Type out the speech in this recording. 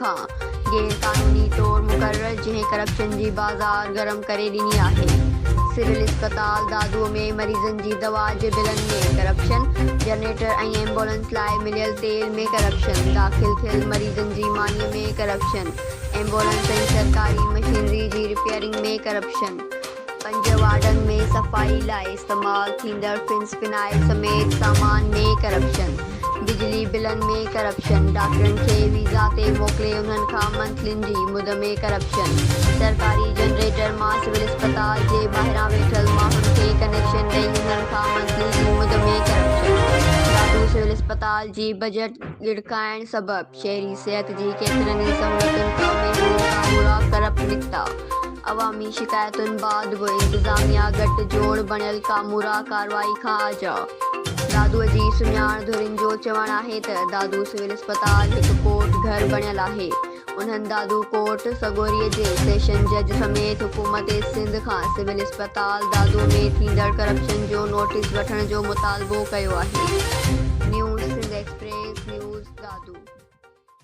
کان غير قانوني طور مقرر جنهن ڪرپشن جي بازار گرم ڪري ڏني آهي سول اسپتال دادو ۾ مريضن جي دوا جي بلن ۾ ڪرپشن جنريٽر ۽ ايمبولنس لاء مليل تيل ۾ ڪرپشن داخل ٿيل مريضن جي ماني ۾ ڪرپشن ايمبولنس ۽ سرڪاري مشينري جي رپيئرنگ ۾ ڪرپشن. پنج وارڊن ۾ صفائي لاء استعمال ٿيندڙ فنس فنائل سميت سامان ۾ ڪرپشن، بجلي بلن ۾ ڪرپشن، ڊاڪٽرن کي ويزا تي موڪلي انهن کان منٿلين جي مد ۾ ڪرپشن، سرڪاري جنريٽر مان سول اسپتال جي ٻاهران ويٺل ماڻهن کي ڪنيڪشن ڏئي انهن کان منٿلي جي مد ۾ ڪرپشن، ڏاڍو سول اسپتال جي بجيٽ ڳڙڪائڻ سبب. شهري صحت جي ڪيترن ئي سهولتن کان بي موقعا ٻوڙا ڪرپ نڪتا. عوامي شڪايتن بعد به انتظاميا گٺ جوڙ بڻيل ڪامورا ڪارروائي کان آجا. دادوء جي سڃاڻ ڌرين جو چوڻ آهي ته دادو سول اسپتال هڪ ڪورٽ گهر بڻيل آهي. انهن دادو ڪورٽ سڳوريء جي سيشن جج سميت حڪومت سنڌ کان سول اسپتال تال دادو ۾ ٿيندڙ ڪرپشن جو نوٽيس وٺڻ جو مطالبو ڪيو آهي news Sindh express news Dadu.